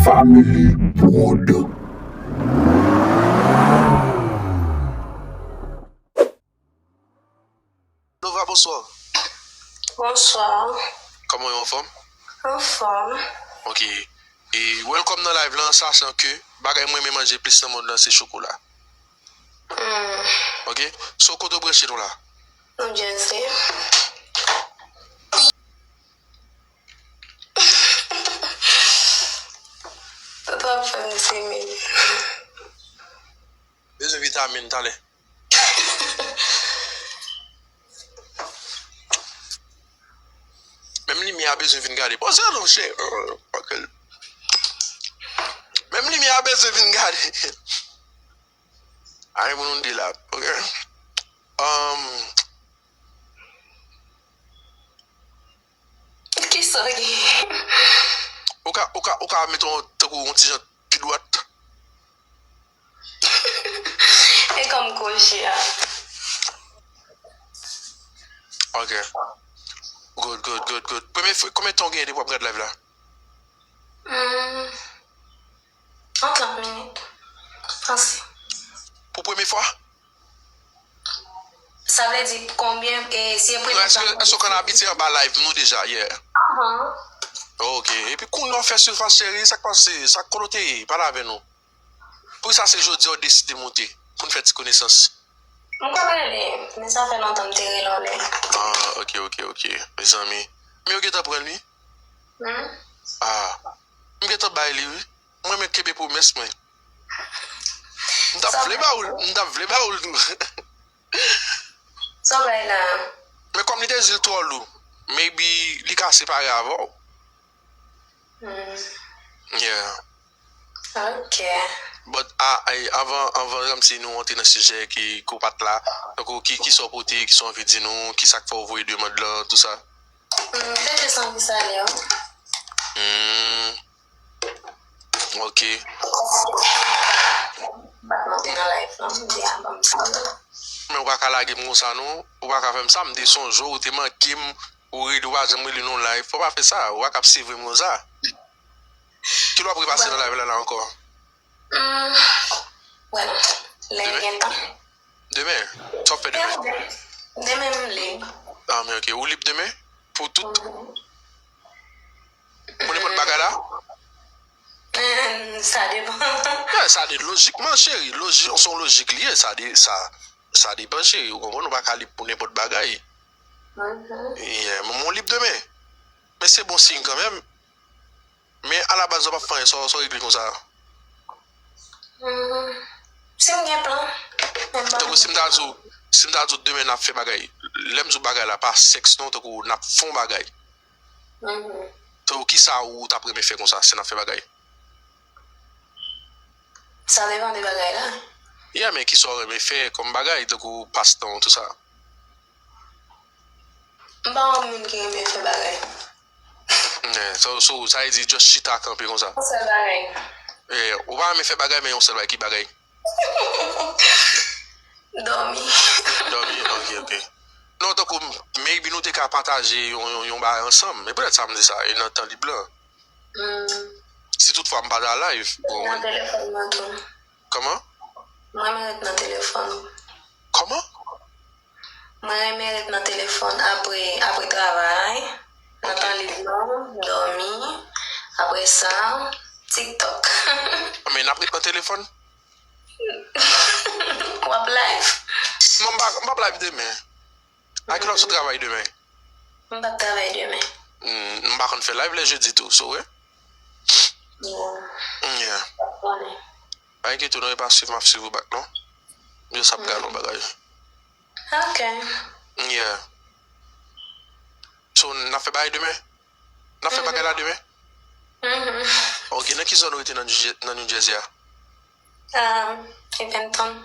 Family prod. Nova bonswa. Bonswa. Koman yo anfom? Anfom. Ok e welcome nan live lan sachan ke bagay mrenmen manje plis nan mond lan se chokola. Hum. Ok so kote ou branche nou la? New Jersey. Toto ap fem timid. Bezwen vitamin tale. Menm limye a bezwen vin gade. Poze nou che. Menm limye a bezwen vin gade. An pou nou di la. Ok. Am. Kisa ki Ou ka ou ka ou ka meton tankou yon ti jan pi dwat. E kòm kò je a. Ok Good good good good Premye konbyen tan ou genyen depi wap gad live la? Yon 30 minit pase. Pou premye fwa? Sa vle di konbyen e si e premye fwa. Eske ou konn abitye anba live nou deja yeah? Ok epi kounya ou fè silfas cheri sak pase sak kote ou te ye pale avè nou poukisa se jodia ou deside moute poun fè ti konesans. M konn rele men sa fè lontan m te rele yon lè. Ah ok ok ok mezanmi men yo gentan pranl wi ah. M gentan bay li wi. M renmen kenbe pwomès mwen. M tap vle ba oul. M tap vle ba oul tou. Sa w bay la a? Men kòm li te di l twò lou. Maybe li ka separe avè w. Hum. Yeah. Ok. But avan anvan ti nou rantre nan sijè ki ou pat la. Donk kisa w pote, kisa w anvi di nou, kisa k fè w voye demand lan, tout sa. Humm m pete san pou sa leo. Humm ok. Bat monte nan live lan m di a banm sa la. Men ou paka lagem konsa non ou paka fèm sa m te sonjew ou te mankem ou rele ou pa janm rele non live fò pa fè sa ou paka ap sevrem konsa kilè wap repase nan live la la ankò. Demen? Demen? Sa w ap fè demen? Demen m lib. Ah men ok, ou lib demen? Pou tout? Pou nenpòt bagay la? Sa depan. Sa depan, lojikman cheri, se yon lojik li ye, sa depan cheri, ou konprann, ou pa ka lib pou nenpòt bagay. Ou lib demen? Men se bon siy kanmenm. Men a la baz ou pap fè anyen sa w regle konsa. Humm si m gen plan men m pa Tankou si m ta di w si m ta di w demen nap fè bagay lè m di w bagay la pa sèks non tankou nap fon bagay tankou kisa ou tap renmen fè konsa si nap fè bagay. Sa depan de bagay la. Yeah men kisa w renmen fè kòm bagay tankou pas tan w tout sa. M pa yon moun ki renmen fè bagay. Sa vle di just chita kanpe konsa. Yon sèl bagay. Ou pa renmen fè bagay men yon sèl bagay, ki bagay? Dòmi. Dòmi ok ok. Non tankou maybe nou te ka pataje yon bagay ansanm. E poutèt sa m di sa e nan tan lib lan. Si tout fwa m pa nan live. Mwen nan telefòn mwen tou. Kòman? Mwen menm ret nan telefòn. Kòman? Mwen renmen ret nan telefòn apre apre travay, nan tan lib mwen, dòmi, apre sa, tiktok. Men nap ret nan telefòn? Wap live? Non m pa m pap live demen. A kilè wap sot travay demen? M pap travay demen. Hum m pa konn fè live lè jedi tou, so wè? Bon. Hum yeah. Wap konnen. Pa enkyete w non e pa swiv map swiv ou back non m just ap gad yon bagay ok yeah so nap fè bagay demen nap fè bagay la demen uhmm ok nan ki zòn ou rete nan New Jersey a? Eventon.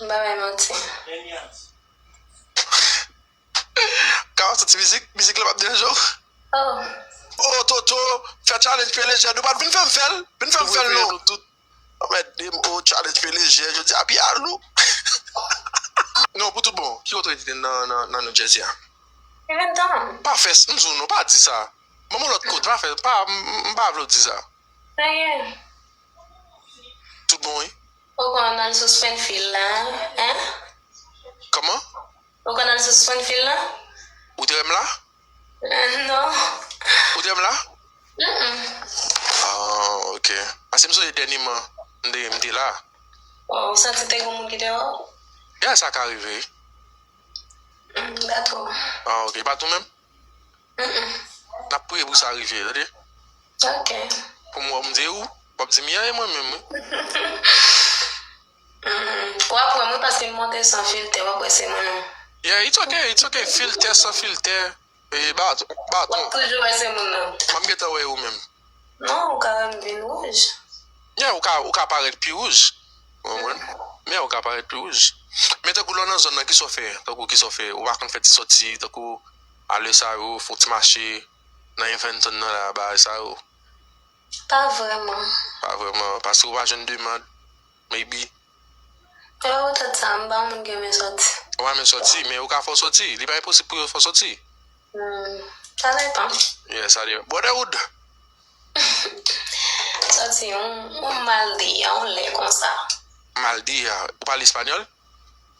M pa bay manti. Kara soti mizik, mizik la pap deranje w? Oh. Oh Toto fè challenge pye lejè nou pat vin fèm fèl vin fèm fèl non anmèdem oh challenge pye lejè jodi a pye a lou non pou tout bon ki kote ou rete nan New Jersey a Eventon pa fè m di w non pa di sa banm yon lòt kote pa fè m pa vle w di sa pa gen Tout bon wi. Ou konn nan sou Springfield la hein. Kman? Ou konn nan sou Springfield la? Ou te wèm la? Non. Ou te wèm la? Humm. Ahh ok. Pase m sonje dènyman m te m te la. Bon ou santi te gon moun ki te wè w? Yeah sa ka rive wi. Humm m pa two. Ahh ok. E pa tou menm? Nap priye pou sa rive tande. Ok. Poum wè bndye ou wap dim yan e mwen menm wi. Wap wèm wi paskem monte san filtè wap wè se mwen menm. Yeah it's ok it's ok filtè san filtè e baton. Wap toujou wè se mwen menm. Map gentan wè e ou menm. Non ou ka wèm vin wouj. Yeah ou ka parèt pi wouj. Yeah ou ka parèt pi wouj. Men tankou lè ou nan zòn nan kisa ou fè tankou kisa ou fè ou pa konn fè ti sòti tankou. A lè sa yo fon ti mache nan Eventon nan la bagay sa yo. Pa vrèman. Pa vrèman. Paske ou pa jwenn demand. Maybe. Lè ou tèt sa anba moun gen men soti. Anba men soti. Men yo ka fè w soti. Li pa enposib pou yo fè w soti. Humm. Sa depan. Yeah sa depan. Brotherhood! Soti yon mal di a yon lè konsa. Mal di a. Ou pale espanyòl?